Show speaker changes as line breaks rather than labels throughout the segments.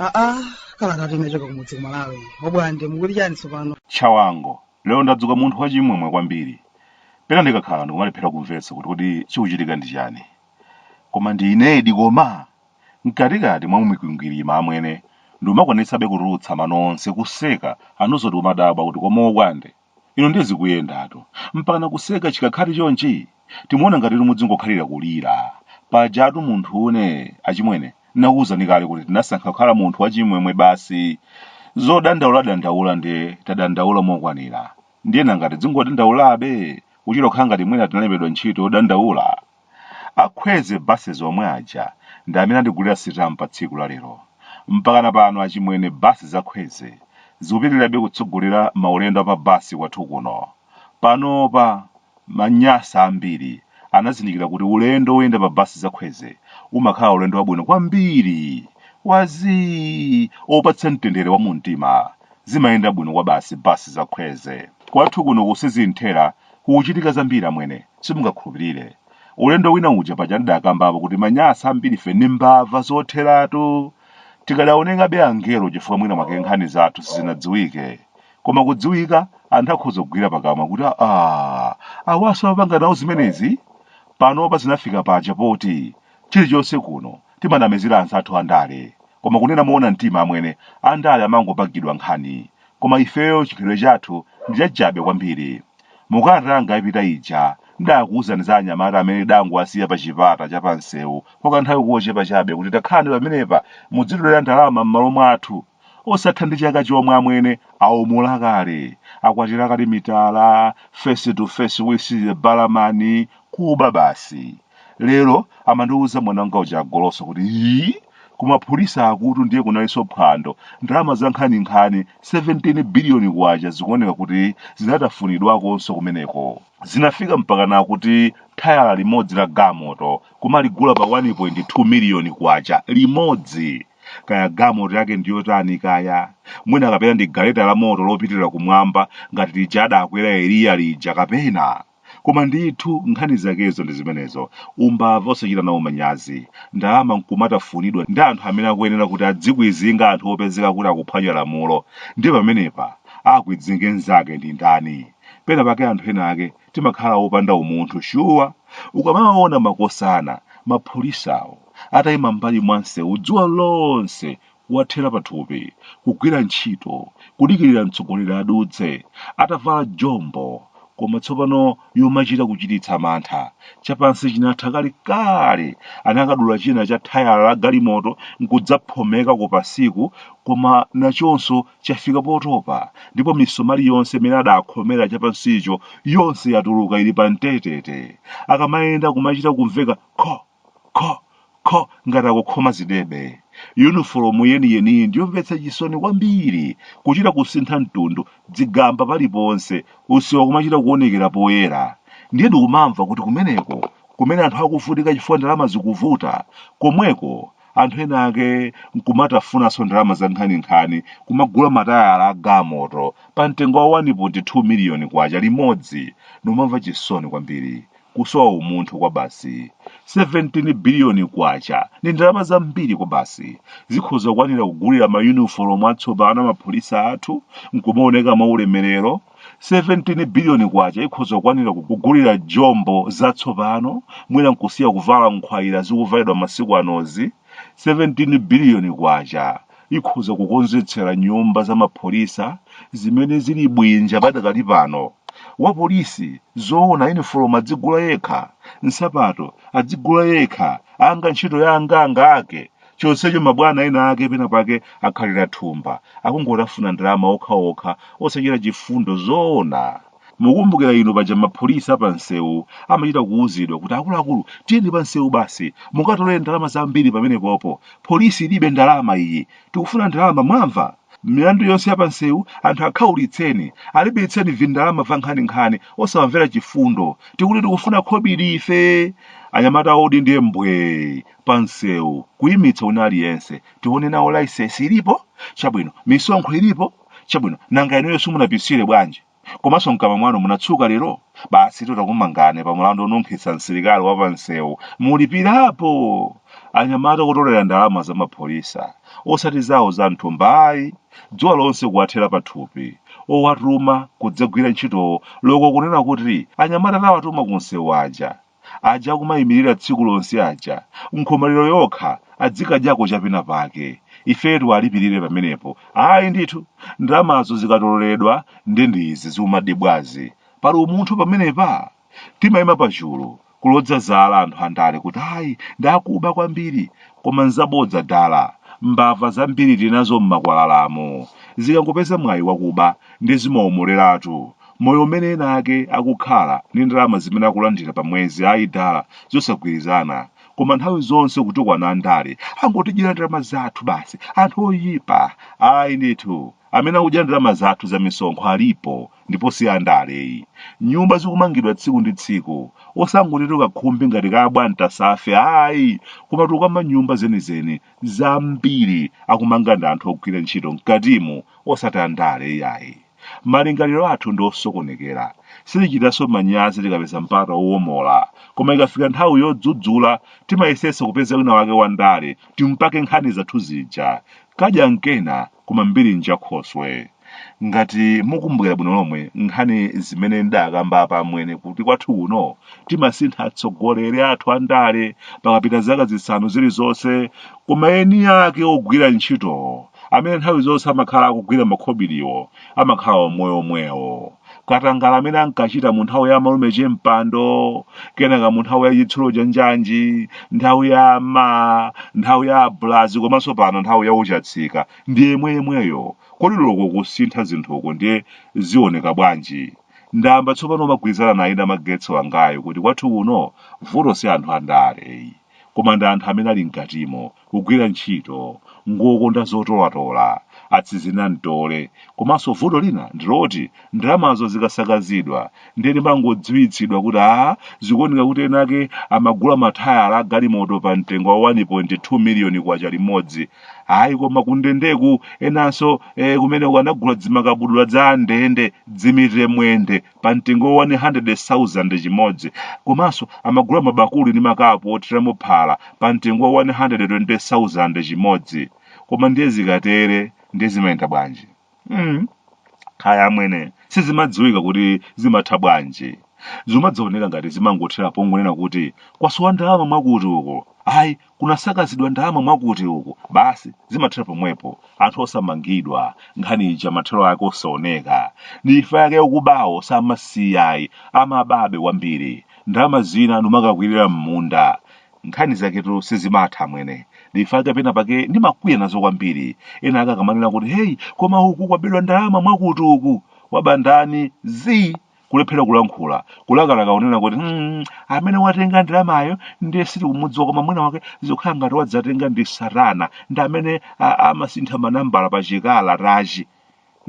aa kalata yochoka kumudzi kumalawi obwande mukuli chani tsopano
chawango lero ndadzuka munthu wachimwemwe kwambiri pena ndikakhala ndikumalephera kumvetsa kuti kodi chikuchitika ndi chani koma ndi inedi koma Mkatikati mwa mikwingwirima amwene ndikumakwanitsabe kutulutsa mano onse kuseka anzathu kumadabwa kuti koma obwande inu ndiye zikuyendatu mpakana kuseka chikhakhali chonchi? Timuona ngatitu mudzingokhalira kulira. Pajatu munthune achimwene nnakuuzani kale kuti tinasankha kukhala munthu wachimwemwe basi zodandaula dandaula nde tadandaula mokwanira ndiye nanga tidzingodandaulabe kuchita kukhala ngati mwina tinalembedwa ntchito yodandaula? Akhweze buses omwe aja ndi amene andigulira sitampa tsiku la lero. Mpakana pano achimwene bus za Khweze zikupitilirabe kutsogolera maulendo a pa bus kwathu kuno. Panopa ma Nyasa ambiri anazindikira kuti ulendo woyenda pa bus za Khweze umakhala ulendo wabwino kwambiri, wa zii, opatsa mtendere wa mumtima. Zimayenda bwino kwabasi bus za Khweze. Kwathu kuno ku Sizinthera kukuchitika zambiri amwene. Simungakhulupirire. Ulendo wina uja paja ndidakambapo kuti manyasa ambiri ife ndi mbava zotheratu. Tikadaonekabe angelo chifukwa mwina mwake nkhani zathu sizinadziwike. Koma kudziwika anthu akhoza kugwira pakamwa kuti aah awaso amapanga nawo zimenezi? Panopa zinafika paja poti chilichonse kuno timanamizira anzathu andale. Koma kunena moona mtima amwene, andale amangopangidwa nkhani. Koma ifeyo chikhalidwe chathu ndi chachabe kwambiri. Mu kalata yanga yapita ija, ndidaakuuzani za anyamata amene tidangowasiya pa chipata cha pa mseu kwa kanthawi kochepa chabe kuti takhalani pamenepa mudzitolera ndalama m'malo mwathu. Osatha ndi chaka chomwe amwene aumula kale, akwatira kale mitala, face to face with the barman, kuba basi. Lero amandiuza mwana wanga uja agoloso kuti ii kumaphulisa akuti ndiye kunalinso phwando ndalama za nkhaninkhani 17 biliyoni kwacha zikuoneka kuti zinatafunidwakonso kumeneko zinafika mpakana kuti thayala limodzi la galimoto kumaligula pa 1.2 miliyoni kwacha limodzi kaya galimoto yake ndiyotani kaya mwina kapena ndi galeta la moto lopitirira kumwamba ngati lija adakwera eliya lija kapena Koma ndithu nkhani zakezo ndi zimenezo, umbava osachita nawo manyazi, ndalama nkumatafunidwa ndi anthu amene akuyenera kuti adzikwidzinga anthu opezeka kuti akuphwanya lamulo, ndiye pamenepa akwidzinge nzake ndi ndani? Pena pake anthu ena ake timakhala opanda umunthu shuwa! Ukamawaona makosana maphulisawo ataima m'mbali mwa nsewu dzuwa lonse wathera pathupi, kugwira ntchito, kudikirira mtsogoleri adutse, atavala jombo, koma tsopano yomachita kuchititsa mantha, chapansi chinatha kale kale, anakadula china cha thayala la galimoto nkudzaphomeka kupansiku, koma nachonso chafika potopa, ndipo misomali yonse imene adaakhomera chapansicho yonse yatuluka ili pamtetete. Akamayenda kumachita kumveka kho! kho kho ngati akukhoma zidebe. Yunifolomu yeniyeniyi ndi yomvetsa chisoni kwambiri, kuchita kusintha mtundu, dzigamba paliponse, usiwa kumachita kuonekera poyera. Ndiye ndikumamva kuti kumeneko, kumene anthu akuvutika chifukwa ndalama zikuvuta, komweko anthu ena ake nkumatafunanso ndalama zankhaninkhani kumagula matayala a galimoto pa mtengo wa 1.2 miliyoni kwacha limodzi. Ndikumamva chisoni kwambiri. kusowa umunthu kwabasi. 17 biliyoni kwacha ndi ndalama zambiri kwabasi zikhoza kwanira kugulira mayunifolomu atsopano amapholisa athu nkumaoneka mwaulemerero 17 biliyoni kwacha ikhoza kwanira kugulira jombo zatsopano mwina nkusiya kuvala nkhwayira zikuvalidwa masiku anozi 17 biliyoni kwacha ikhoza kukonzetsera nyumba za mapholisa zimene zili bwinja padakali pano wapolisi zoona yunifolomu adzigula yekha nsapato adzigula yekha anga ntchito ya anganga ake chonsecho mabwana ena ake pena pake akhalira thumba akungotafuna ndalama okhaokha osachita chifundo zoona Mukumbukira inu paja mapholisa apamsewu amachita kuwuzidwa kuti akuluakulu tiyeni pamsewu basi mukatolere ndalama zambiri pamenepopo. Polisi ilibe ndalama iyi. Tikufuna ndalama mwamva? Milandu yonse yapamsewu anthu akhaulitseni, alipiritseni vindalama vankhaninkhani osawamvera chifundo. Tikuti tikufuna khobiri ife! Anyamata odi ndiye mbwee! Pamsewu, kuyimitsa wina aliyense. Tione nawo licence ilipo? Chabwino, misonkho ilipo? chabwino nanga inuyo simunapisire bwanji komanso mkamwa mwanu munatsuka lero basi titakumangani pa mulandu onunkhitsa msilikali wa pamsewu mulipirapo anyamata kutolera ndalama za mapholisa osati zawo za mthumba ayi dzuwa lonse kuwathera pathupi owatuma kudzagwira ntchito loko kunena kuti anyamata tawatuma ku msewu aja aja kumayimirira tsiku lonse aja nkhomaliro yokha adzikadyako chapena pake ife tiwalipirire pamenepo ayi ndithu ndalamazo zikatoleredwa ndi ndizi zikumadyibwazi pali umunthu pamenepa timayima pachulu kuloza zala anthu andale kuti ayi ndakuba kwambiri koma nzabodza dala mbava zambiri tinazo m'makwalalamu zikangopeza mwayi wakuba ndi zimawomoleratu moyo umene ena ake akukhala ndi ndalama zimene akulandira pa mwezi ayi dala zosagwirizana koma nthawi zonse kutukwana andale angotidyera ndalama zathu basi anthu oyipa ayi ndithu amene akudya ndalama zathu za misonkho alipo ndipo si andale ayi nyumba zikumangidwa tsiku ndi tsiku osangoti tikakhumbi ngati kabwanta safe ayi koma tikukamba nyumba zenizeni zambiri akumanga ndi anthu ogwira ntchito mkatimu osati andale iyayi Malingaliro athu ndi osokonekera. Sitichitanso manyazi tikapeza mpata wowomola. Koma ikafika nthawi yodzudzula, timayesetsa kupeza wina wake wandale timupake nkhani zathu zija. Kadya n'kena koma mbiri n'njakhoswe. Ngati mukumbukira bwino lomwe nkhani zimene ndidakamba apa amwene kuti kwathu kuno timasintha atsogoleri athu andale pakapita zaka zisanu zilizonse koma eni ake ogwira ntchito amene nthawi zonse amakhala akugwira makhobiliwo amakhala omwewo omwewo katangale amene ankachita mu nthawi ya malume chempando kenaka mu nthawi ya chitsulo cha njanji nthawi ya ma nthawi ya abulazi komanso pano nthawi ya uchatsika ndi yemweyemweyo kodi ndiye kusintha zinthuku kuzioneka bwanji ndayamba tsopano kumagwirizana naye Namagetsi wangayu kuti kwathu kuno vuto si anthu andale koma ndi anthu amene ali mkatimo kugwira ntchito ngokonda zotolatola atsizina mtole komanso vuto lina ndiloti ndalamazo zikasakazidwa ndiye timangodziwitsidwa kuti a zikuoneka kuti ena ake amagula matayala a galimoto pa mtengo wa 1.2 miliyoni kwacha limodzi ayi koma kundendeku enanso eh, kumeneko anagula dzimakabudula dza ndende dzimitire mwende pa mtengo wa 100,000 chimodzi komanso amagula mabakuli ndi makapu othiramo phala pa mtengo wa 120,000 chimodzi koma ndiye zikatere ndiye zimayenda bwanji mm. kaya amwene sizimadziwika kuti zimatha bwanji zimadzaoneka ngati zimangothera pongonena kuti kwasowa ndalama mwakuti uko ayi kunasakazidwa ndalama mwakuti uku basi zimathera pomwepo anthu osamangidwa nkhani ija mathero ake osaoneka nchifukwa chake akubawo samasiya ayi amababe kwambiri ndalama zina n'kumakakwirira m'munda nkhani zaketu sizimatha amwene nchifukwa chake pena pake ndimakwiya nazo kwambiri ena ake akamanena kuti heyi koma uku kwabedwa ndalama mwakuti uku waba ndani zi kulephera kulankhula kulakalaka kunena kuti "Mm, amene watenga ndalamayo ndiye sitikumudziwa koma mwina wake zikukhala ngati wadzatenga ndi satana ndi amene a- amasintha manambala pa chikalatachi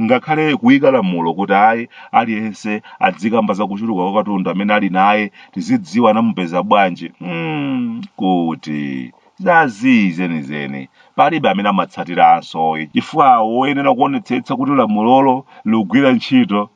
ngakhale kuyika lamulo kuti ayi aliyense adzikamba za kuchuluka kwa katundu amene ali naye tizidziwa anamupeza bwanji mm, kuti zazii zenizeni palibe amene amatsatiranso chifukwa woyenera kuonetsetsa kuti lamulolo likugwira ntchito